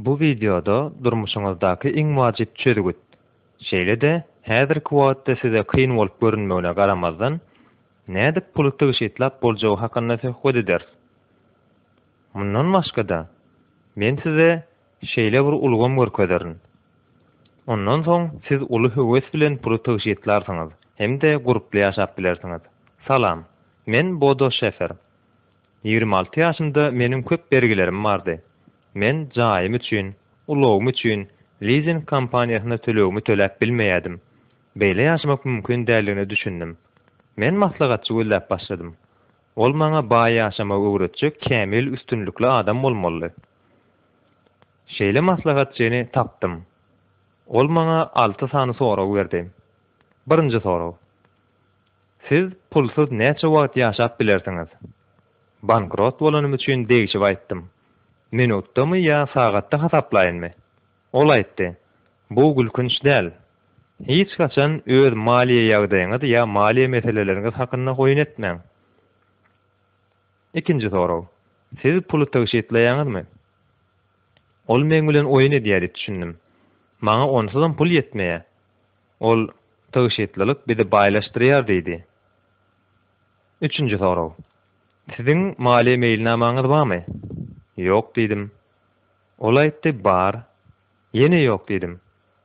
Bu wideoda durmuşyňyzdaky iň wajyp çözgüt, şeýle-de häzirki wagtda size kyn bolup görünmegine garamazdan, nädip puly tygşytlap boljagy hakynda söhbet ederis. Mundan başga-da, men size Şeýle bir ulgam görkezerin. Ondan soň siz uly höwes bilen puly tygşytlarsyňyz hem-de gurply ýaşap bilersiňiz. Salam. Men Bodo Şefer. Ýigrimi alty ýaşymda meniň köp bergilerim bardy. Men jaýym üçin, ulagym üçin lizing kompaniýasyna tölegimi töläp bilmeýärdim. Beýle ýaşamak mümkin däldigine düşündim. Men maslahatçy gözläp başladym. Ol maňa baý ýaşamagy öwretjek kämil üstünlikli adam bolmalydy. Şeýle maslahatçyny tapdym. Ol maňa alty sany sorag berdi. Birinji sorag. Siz pulsuz näçe wagt ýaşap bilersiňiz? Bankrot bolanym üçin degşip aýtdym. Minutdamy ýa sagatda hasaplaýynmy? Ol aýtdy, Bu gülkünç däl. Hiç haçan öz maliýe ýagdaýyňyz ýa maliýe meseleleriňiz hakynda oýun etmäň. Ikinji sorag, Siz puly tygşytlaýaňyzmy? Ol meň bilen oýun edýär diýip düşündim. Maňa onsuzam pul ýetmeýär. Ol, Tygşytlylyk bizi baýlaşdyrýar diýdi. Üçünji sorag, Siziň maliýe meýilnamaňyz barmy? Ýok diýdim. Ol aýtdy, Bar. Ýene ýok diýdim.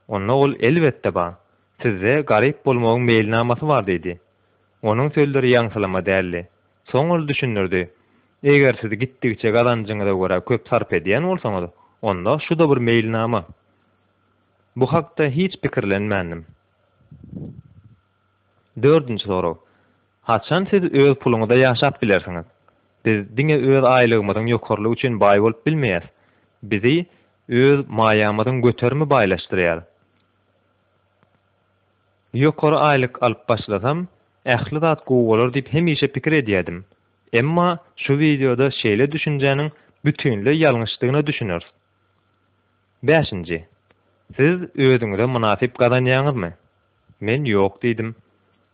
Onda ol Elbetde bar. Sizde garyp bolmagyň meýilnamasy bar diýdi. Onuň sözleri ýaňsylama däldi. Soň ol düşündirdi, Eger siz gitdigiçe gazanjyňyza görä köp sarp edýän bolsaňyz, onda şu-da bir meýilnama. Bu hakda hiç pikirlenmändim. Dördünji sorag. Haçan siz öz puluňyza ýaşap bilersiňiz? Biz diňe öz aýlygymyzyň ýokarylygy üçin baý bolup bilmeýäs. Bizi öz maýamyzyň göterimi baýlaşdyrýar. Ýokary aýlyk alyp başlasam, ähli zat gowy bolar diýip hemişe pikir edýärdim. Emma şu wideoda şeýle düşünjäniň bütinleý ýalňyşdygyna düşüneris. Bäşinji, Siz özüňize mynasyp gazanýaňyzmy? Men ýok diýdim.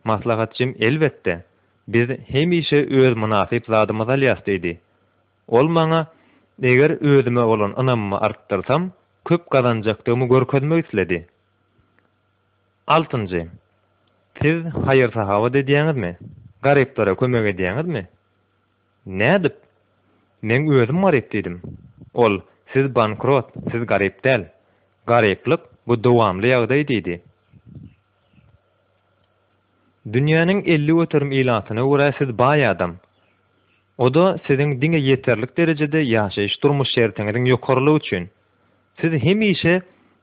Maslahatçym elbetde, biz hemişe öz mynasyp zadymyzy alýas diýdi. Ol maňa, eger özüme bolan ynamymy artdyrsam, köp gazanjakdygymy görkezmek isledi. Altynjy, Siz haýyr-sahawat edýäňizmi? Garyplara kömek edýäňizmi? Nädip? Meň özüm garyp diýdim. Ol, Siz bankrot, siz garyp däl. Garyplyk, bu dowamly ýagdaý diýdi. Dünýäniň elli göterim ilatyna görä siz baý adam. O-da siziň diňe ýeterlik derejede ýaşaýyş-durmuş şertiňiziň ýokarylygy üçin. Siz hemişe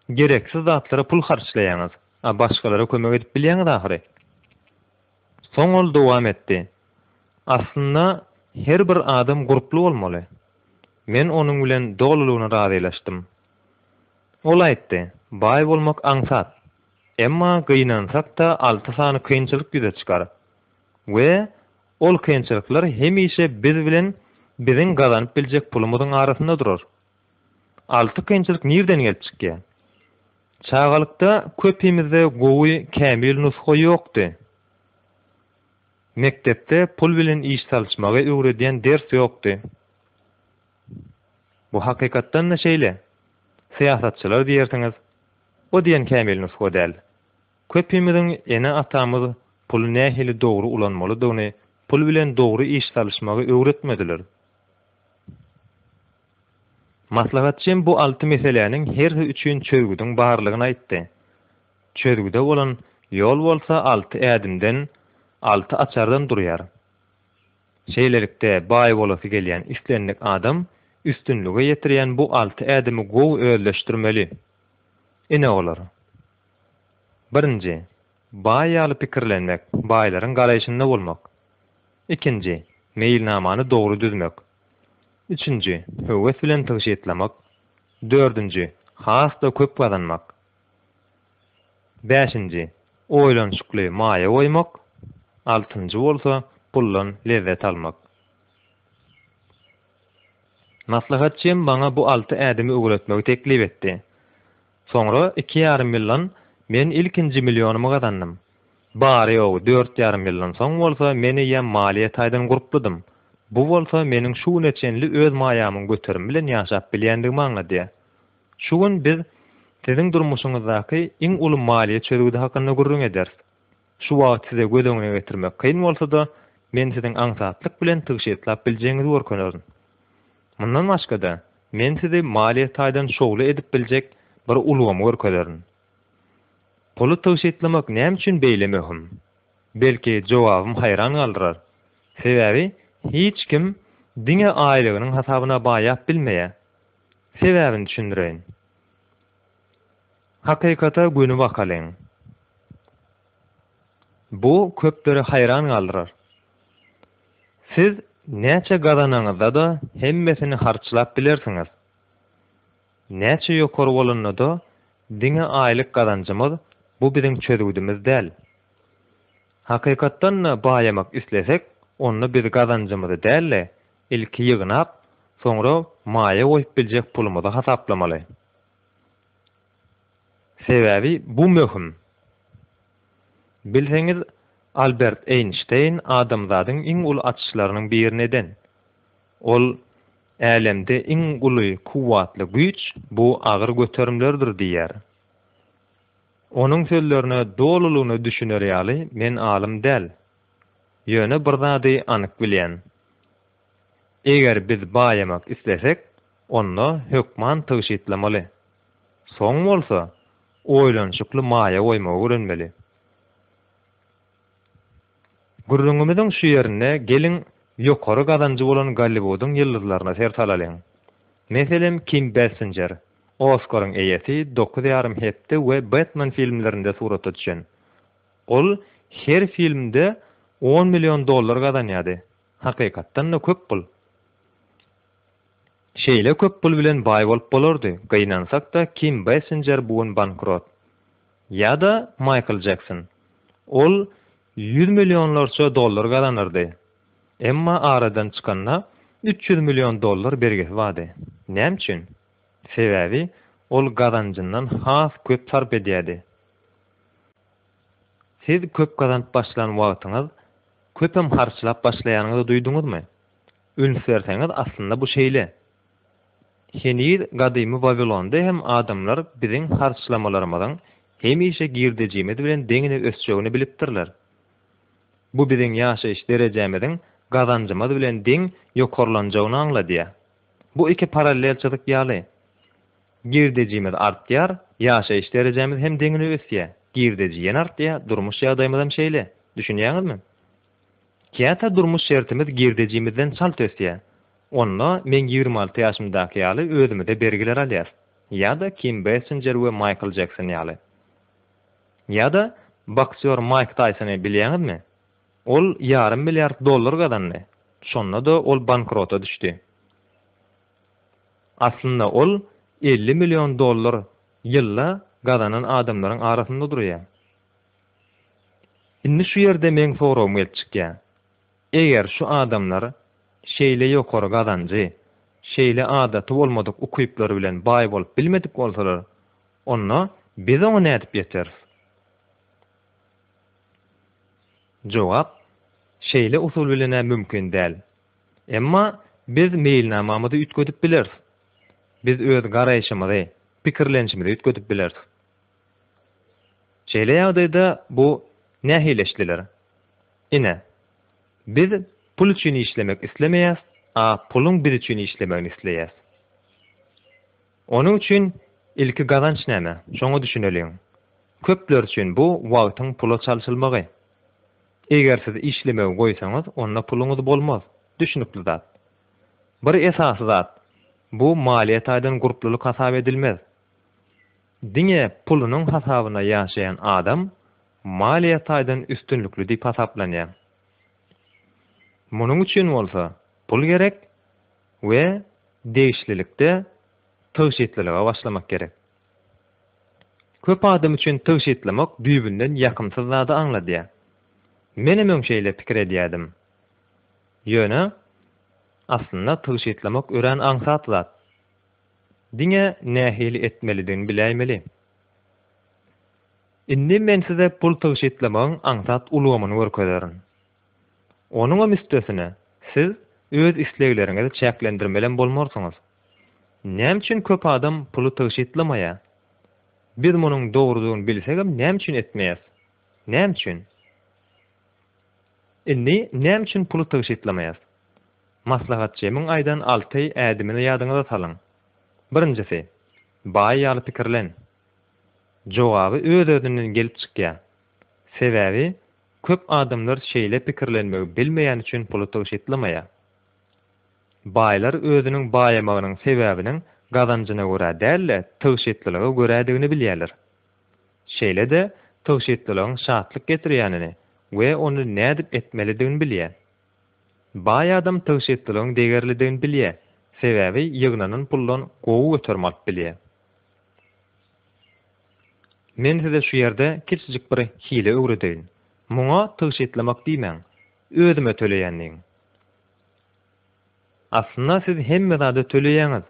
gereksiz zatlara pul harçlaýaňyz, a başgalara kömek edip bilýäňiz ahyry. Soň ol dowam etdi, Aslynda her bir adam gurply bolmaly. Men onuň bilen dolulygyna razylaşdym. Ol aýtdy, Baý bolmak aňsat. Emma gynansak-da alty sany kynçylyk ýüze çykar. We ol kynçylyklar hemişe biz bilen biziň gazanyp biljek pulumyzyň arasynda durar. Alty kynçylyk nirden gelip çykýa? Çagalykda köpimizde gowy kämil nusga ýokdy. Mekdepde pul bilen iş salyşmagy öwredýän ders ýokdy. Bu hakykatdan-da şeýle. Syýasatçylar diýersiňiz, o diýen kämil nusga däl. Köpimiziň ene-atamyz puly nähili dogry ulanmalydygyny, pul bilen dogry iş salyşmagy öwretmediler. Maslahatçym bu alty meseläniň hersi üçin çözgüdiň barlygyny aýtdy. Çözgüde bolan ýol bolsa alty ädimden, alty açardan durýar. Şeýlelikde, baý bolasy gelýän islendik adam üstünlige ýetirýän bu alty ädimi gowy özleşdirmeli. Ine olar. Birinji, baý ýaly pikirlenmek, baýlaryň garaýşynda bolmak. Ikinji, meýilnamany dogry düzmek. Üçünji, höwes bilen tygşytlamak. Dördünji, has-da köp gazanmak. Bäşinji, oýlanyşykly maýa goýmak. Altynjy bolsa, puldan lezzet almak. Maslahatçym maňa bu alty ädimi öwretmegi teklip etdi. Soňra iki ýarym ýyldan men ilkinji millionymy gazandym. Bary-ýogy dört ýarym ýyldan soň bolsa men eýýäm maliýe taýdan gurpludym. Bu bolsa meniň şu güne çenli öz maýamyň göterimi bilen ýaşap bilýändigimi aňladýar. Şu gün biz Siziň durmuşyňyzdaky iň uly maliýe çözgüdi hakynda gürrüň ederis. Şu wagt size göz öňüne getirmek kyn bolsa-da, men siziň aňsatlyk bilen tygşytlap biljegiňizi görkenerin. Mundan başga-da, men sizi maliýe taýdan şowly edip biljek bir ulgamy görkezerin. Puly tygşytlamak näme üçin beýle möhüm? Belki, jogabym haýran galdyrar. Sebäbi hiç kim diňe aýlygynyň hasabyna baýap bilmeýär. Sebäbini düşündireýin. Hakykata göni bakalyň. Bu köpleri haýran galdyrar. Siz näçe gazananyňyzda-da hemmesini harçlap bilersiňiz. Näçe ýokary bolanda-da diňe aýlyk gazanjymyz bu biziň çözgüdimiz däl. Hakykatdan-da baýamak islesek, onda biz gazanjymyzy däl-de, ilki ýygnap, soňra maýa goýup biljek pulumyzy hasaplamaly. Sebäbi bu möhüm. Bilseňiz, Albert Eýnşteýn adamzadyň iň uly açyşlarynyň birini eden. Ol, Älemde iň uly kuwwatly güýç bu agyr göterimlerdir diýýär. Onuň sözlerine dolulygyna düşüner ýaly men alym däl. Ýöne bir zady anyk bilýän. Eger biz baýamak islesek, onda hökman tygşytlamaly. Soň bolsa, oýlanyşykly maýa goýmagy öwrenmeli. Gürrüňimiziň şu ýerinde geliň ýokary gazanjy bolan Golliwudyň ýyldyzlaryna ser salalyň. Meselem, Kim Bessinjer, Oskaryň eýesi, Dokuz ýarym hepde we Batman filmlerinde surata düşen. Ol her filmde on million dollar gazanýardy. Hakykatdan-da köp pul. Şeýle köp pul bilen baý bolup bolardy, gynansak-da Kim Basinger bu gün bankrot. Ýa-da Maýkl Jekson. Ol ýüz millionlarça dollar gazanardy. Emma aradan çykanda üç ýüz million dollar bergisi bardy. Näme üçin? Sebäbi ol gazanjyndan has köp sarp edýärdi. Siz köp gazanyp başlan wagtyňyz köpem harçlap başlaýanyňyzy duýduňyzmy? Üns berseňiz aslynda bu şeýle. Heniz gadymy Wawilonda hem adamlar biziň harçlamalarymyzyň hemişe girdejimiz bilen deňine ösjegini bilipdirler. Bu biziň ýaşaýyş derejämiziň gazanjymyz bilen deň ýokarlanjagyny aňladýar. Bu iki parallel çyzyk ýaly. Girdejimiz artýar, ýaşaýyş derejämiz hem deňine ösýär. Girdeji ýene artýar, durmuş ýagdaýymyzam şeýle. Düşünýäňizmi? Käte durmuş şertimiz girdejimizden çalt ösýär. Onda men ýigrimi alty ýaşymdaky ýaly özümize bergiler alýas. Ýa-da Kim Bessinjer we Maýkl Jekson ýaly. Ýa-da boksýor Maýk Taýsony bilýäňizmi? Ol ýarym milliard dollar gazandy. Şonda-da ol bankrota düşdi. Aslynda ol elli million dollar ýylda gazanan adamlaryň arasynda durýar. Indi şu ýerde meň soragym gelip çykýar. Eger şu adamlar şeýle ýokary gazanjy, şeýle adaty bolmadyk ukyplar bilen baý bolup bilmedik bolsalar, onda biz oňa nädip ýeteris? Jogap, Şeýle usul bilen-ä mümkin däl. Emma biz meýilnamamyzy üýtgedip bileris. Biz öz garaýşymyzy, pikirlenişimizi üýtgedip bileris. Şeýle ýagdaýda bu nähili eşdiler? Ine, biz pul üçin işlemek islemeýäs, a puluň biz üçin işlemegini isleýäs. Onuň üçin ilki gazanç näme, şoňa düşüneliň. Köpler üçin bu wagtyň pula çalşylmagy. Eger siz işlemegi goýsaňyz, onda puluňyz bolmaz. Düşnükli zat. Bir esasy zat, bu maliýe taýdan gurplulyk hasap edilmez. Diňe pulunyň hasabyna ýaşaýan adam maliýe taýdan üstünlikli diýip hasaplanýar. Munuň üçin bolsa pul gerek we degişlilikde tygşytlylyga başlamak gerek. Köp adam üçin tygşytlamak düýbünden ýakymsyz zady aňladýar. Menem öň şeýle pikir edýärdim. Ýöne, aslynda tygşytlamak örän aňsat zat. Diňe nähili etmelidigini biläýmeli. Indi men size pul tygşytlamagyň aňsat ulgamyny görkezerin. Onuňam üstesine, siz öz islegleriňizi çäklendirmelem bolmarsyňyz. Näme üçin köp adam puly tygşytlamaýar? Biz munuň dogrudygyny bilsegem näme üçin etmeýäs? Näme üçin? Indi näme üçin puly tygşytlamaýas? Maslahat Jemiň aýdan alty ädimini ýadyňyza salyň. Birinjisi, baý ýaly pikirlen. Jogaby öz-özünden gelip çykýar. Sebäbi Köp adamlar şeýle pikirlenmegi bilmeýän üçin puly tygşytlamaýar. Baýlar özüniň baýamagynyň sebäbiniň gazanjyna görä däl-de, tygşytlylyga görädigini bilýärler. Şeýle-de, tygşytlylygyň şatlyk getirýänini we ony nädip etmelidigini bilýär. Baý adam tygşytlylygyň degerlidigini bilýär, sebäbi ýygnanan puldan gowy göterim alyp bilýär. Men size şu ýerde kiçijik bir hile öwredeýin. Muňa tygşytlamak diýmäň. Özüme töleýän diýiň. Aslynda siz hemme zada töleýäňiz.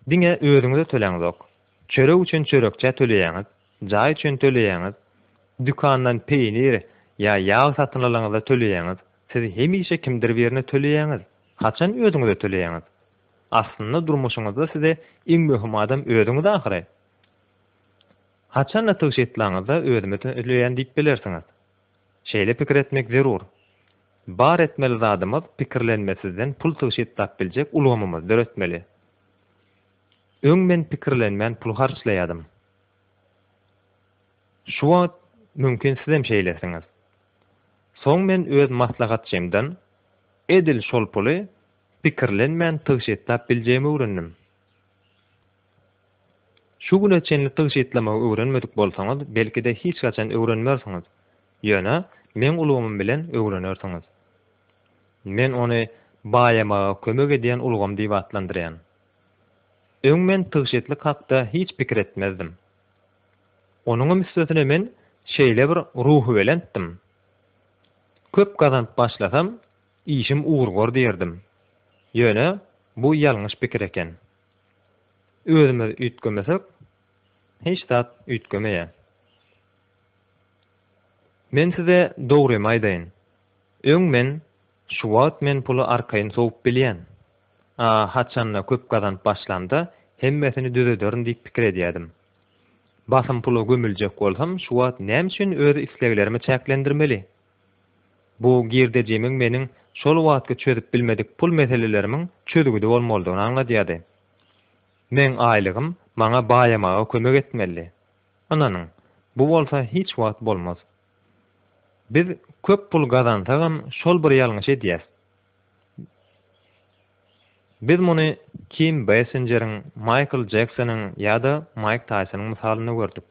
Diňe özüňize töläňzok. Çörek üçin çörekçä töleýäňiz, jaý üçin töleýäňiz, dükandan peýnir ýa ýag satyn alanyňyzda töleýäňiz. Siz hemişe kimdir birine töleýäňiz. Haçan özüňize töleýäňiz? Aslynda durmuşyňyzda size iň möhüm adam özüňiz ahyry. Haçanda tygşy etlaňyzda özümi tüýleýän diýip bilersiňiz. Şeýle pikir etmek zerur. Bar etmeli zadymyz pikirlenmesizden pul tygşy etlap biljek ulgamymyzy döretmeli. Öň men pikirlenmän pul harçlaýadym. Şu wagt mümkin sizem şeýlesiňiz. Soň men öz maslahatçymdan edil şol puly Pikirlenmän tygşytlap biljegimi öwrendim. Şu güne çenli tygşytlamagy öwrenmedik bolsaňyz, belki-de hiç haçan öwrenmersiňiz. Ýöne meň ulgamym bilen öwrenersiňiz. Men ony baýamaga kömek edýän ulgam diýip atlandyrýan. Öň men tygşytlyk hakda hiç pikir etmezdim. Onuňam üstesine men şeýlebir ruhubelentdim. Köp gazanyp başlasam, Işim ugurgor diýerdim. Ýöne bu ýalňyş pikir eken. Özümiz üýtgemesek, hiç zat üýtgemeýär. Men size dogrymy aýdaýyn. Öň men, Şu wagt men puly arkaýyn sowup bilýän. A haçan-da köp gazanyp başlamda hemmesini düzederin diýip pikir edýärdim. Basym pula gömüljek bolsam şu wagt näme üçin öz isleglerimi çäklendirmeli? Bu girdejimiň meniň şol wagtky çözüp bilmedik pul meselelerimiň çözgüdi bolmalydygyny aňladýardy. Meň aýlygym maňa baýamaga kömek etmelidi. Ynanyň, bu bolsa hiç wagt bolmaz. Biz köp pul gazansagam şol bir ýalňyş edýäs. Biz muny Kim Bessinjeriň, Maýkl Jeksonyň ýa-da Maýk Taýsonyň mysalynda gördük.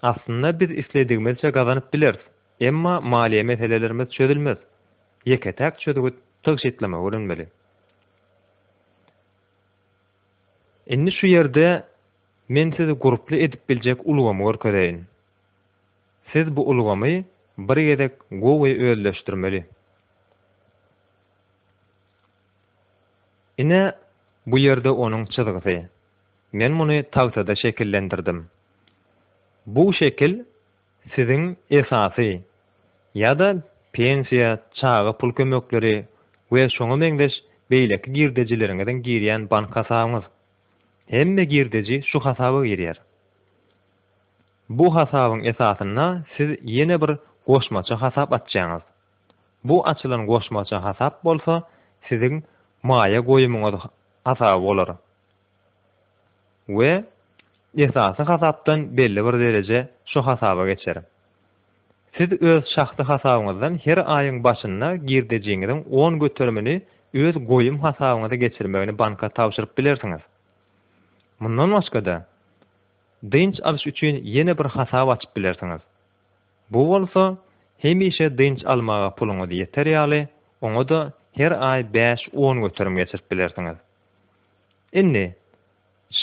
Aslynda biz isledigimizçe gazanyp bileris, emma maliýe meselelerimiz çözülmez. Ýeke-täk çözgüt tygşytlama öwrenmeli. Indi şu ýerde men sizi gruply edip biljek ulgamy görkezeýin. Siz bu ulgamy bir gezek gowy özleşdirmeli. Ine, bu ýerde onuň çyzgysy. Men muny tagtada şekillendirdim. Bu şekil siziň esasy ýa-da pensiýa, çaga pul kömekleri we şoňa meňzeş beýleki girdejileriňiziň girýän bank hasabyňyz. Hemme girdeji şu hasaba girýär. Bu hasabyň esasynda siz ýene bir goşmaça hasap açýaňyz. Bu açylan goşmaça hasap bolsa siziň maýa goýumyňyz hasaby bolar. we esasy hasapdan belli bir dereje şu hasaba geçer. Siz öz şahsy hasabyňyzdan her aýyň başynda girdejiňiziň on göterimini öz goýum hasabyňyza geçirmegini banka tabşyryp bilersiňiz. Mundan başga-da, dynç alyş üçin ýene bir hasap açyp bilersiňiz. Bu bolsa, hemişe dynç almaga puluňyz ýeter ýaly, oňa-da her aý bäş-on göterim geçirip bilersiňiz. Indi,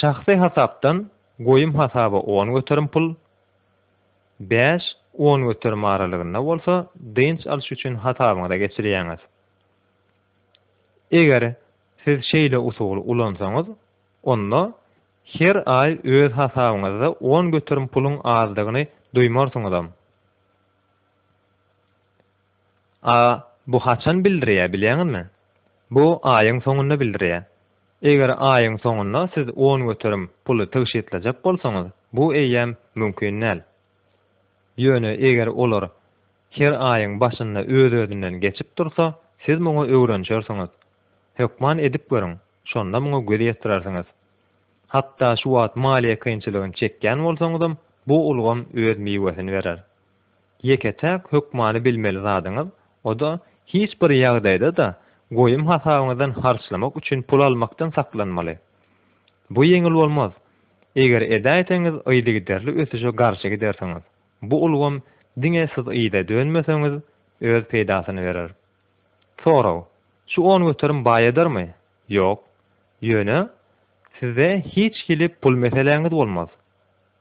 şahsy hasapdan goýum hasaba on göterim pul, bäş, on göterim aralygynda bolsa dynç alyş üçin hasabyňyza geçirýäňiz. Eger siz şeýle usuly ulansaňyz, onda her aý öz hasabyňyzda on göterim puluň azdygyny duýmarsyňyzam. A bu haçan bildirýär bilýäňizmi? Bu aýyň soňunda bildirýär. Eger aýyň soňunda siz on göterim puly tygşytlajak bolsaňyz, bu eýýäm mümkin däl. Ýöne eger olar her aýyň başynda öz-özünden geçip dursa, siz muňa öwrenişersiňiz. Hökman edip görüň, şonda muňa göz ýetirersiňiz. Hatda şu wagt maliýe kynçylygyny çekýän bolsaňyzam, bu ulgam öz miwesini berer. Ýeke-täk hökmany bilmeli zadyňyz, o-da, hiç bir ýagdaýda-da goýum hasabyňyzdan harçlamak üçin pul almakdan saklanmaly. Bu ýeňil bolmaz. Eger edäýseňiz yzygiderli ösüşe garşy gidersiňiz. Bu ulgam diňe siz yza dönmeseňiz, öz peýdasyny berer. Sorag, Şu on göterim baý edermi? Ýok. Ýöne, sizde hiç hili pul meseläňiz bolmaz.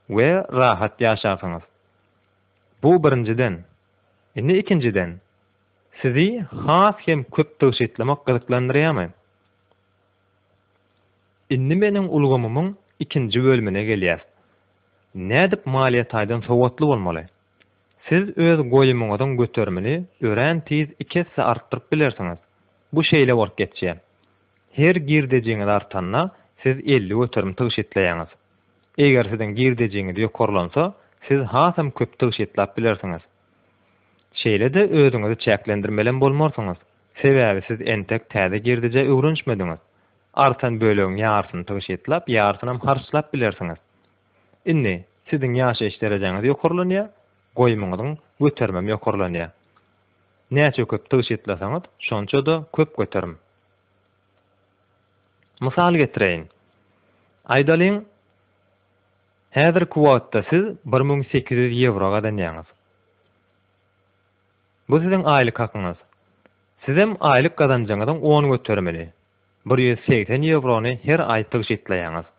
we rahat ýaşarsyňyz. Bu birinjiden. Indi ikinjiden, sizi has hem köp tygşytlamak gyzyklandyrýarmy? Indi meniň ulgamymyň ikinji bölümine gelýäs. Nädip maliýe taýdan sowatly bolmaly? Siz öz goýumyňyzyň göterimini örän tiz iki esse artdyryp bilersiňiz. Bu şeýle bolup geçýär. Her girdejiňiz artanda, siz elli göterim tygşytlaýaňyz. Eger siziň girdejiňiz ýokarlansa, siz hasam köp tygşytlap bilersiňiz. Şeýle-de özüňizi çäklendirmelem bolmarsyňyz, sebäbi siz entek täze girdejä öwrenişmediňiz. Artan bölegiň ýarysyny tygşytlap, ýarysynam harçlap bilersiňiz. Indi, siziň ýaşaýyş derejeňiz ýokarlanýar, goýumyňyzyň göterimem ýokarlanýar. Näçe köp tygşytlasaňyz, şonça-da köp göterim. Mysal getireýin. Aýdalyň, häzirki wagtda siz bir müň sekiz ýüz ýewro gazanýaňyz. Bu siziň aýlyk hakyňyz. Sizem aýlyk gazanjyňyzyň on göterimini, bir ýüz segsen ýewrony her aý tygşytlaýaňyz.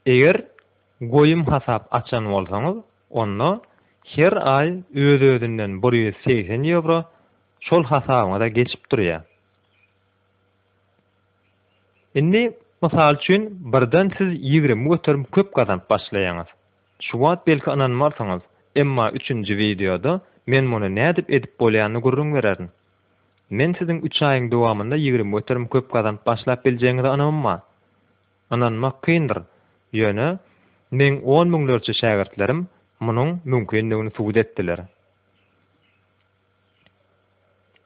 Eger goýum hasap açan bolsaňyz, onda her aý öz-özünden bir ýüz segsen ýewro şol hasabyňyza geçip durýar. Indi, mysal üçin, birden siz ýigrimi göterim köp gazanyp başlaýaňyz. Şu wagt belki ynanmarsyňyz, emma üçünji wideoda men muny nädip edip bolýanyny gürrüň bererin. Men siziň üç aýyň dowamynda ýigrimi göterim köp gazanyp başlap biljegiňize ynamym bar. Ynanmak kyndyr, ýöne meň on müňlerçe şägirtlerim munuň mümkindigini subut etdiler.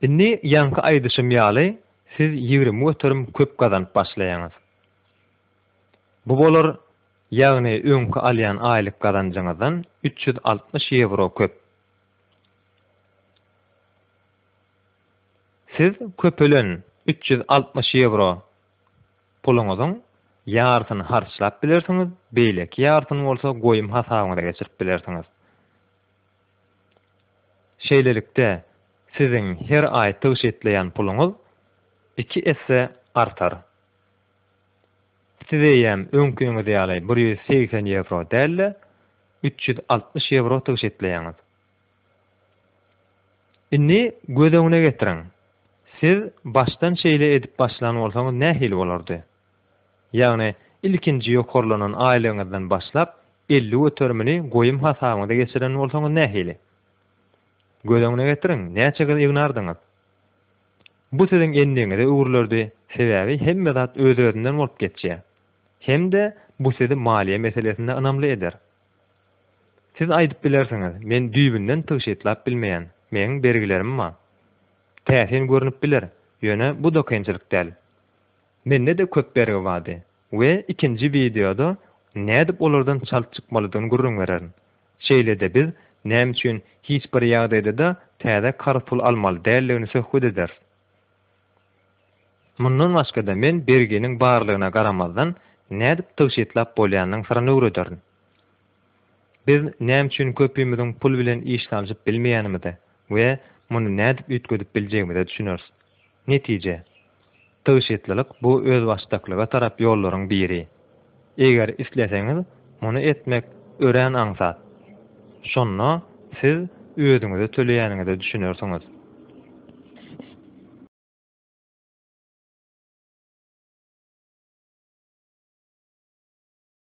Indi ýaňky aýdyşym ýaly siz ýigrimi göterim köp gazanyp başlaýaňyz. Bu bolar, ýagny öňki alýan aýlyk gazanjyňyzdan üç ýüz altmyş ýewro köp. Siz köpelen üç ýüz altmyş ýewro puluňyzyň ýarysyny harçlap bilersiňiz, beýleki ýarysyny bolsa goýum hasabyňyza geçirip bilersiňiz. Şeýlelikde, siziň her aý tygşytlaýan puluňyz iki esse artar. Siz eýýäm öňkiňiz ýaly bir ýüz segsen ýewro däl-de, üç ýüz altmyş ýewro tygyş etleýäňiz. Indi göz öňüne getiriň, siz başdan şeýle edip başlan bolsaňyz nähili bolardy? Ýagny ilkinji ýokarlanan aýlygyňyzdan başlap elli göterimini goýum hasabyňyza geçiren bolsaňyz nähili? Göz öňüne getiriň, näçe gyz ýygnardyňyz? Bu siziň endigiňize öwrülerdi, sebäbi hemme zat öz-özünden bolup geçýär. Hem-de bu sizi maliýe meselesinde ynamly eder. Siz aýdyp bilersiňiz, men düýbünden tygşytlap bilmeýän, meniň bergilerim bar. Täsin görnüp biler, ýöne bu da kynçylyk däl. Mende-de köp bergi bardy. We ikinji wideoda nädip olardan çalt çykmalydygyny gürrüň bererin. Şeýle-de biz näme üçin hiç bir ýagdaýda-da täze karz pul almaly däldigini söhbet ederis. Mundan başga-da men berginiň barlygyna garamazdan nädip tygşytlap bolýanynyň syryny öwrederin. Biz näme üçin köpimiziň pul bilen iş salşyp bilmeýänimize we muny nädip üýtgedip biljegimize düşüneris. Netije. Tygşytlylyk bu özbaşdaklyga tarap ýollaryň biri. Eger isleseňiz, muny etmek örän aňsat. Şonda siz özüňize töleýäniňize düşünersiňiz.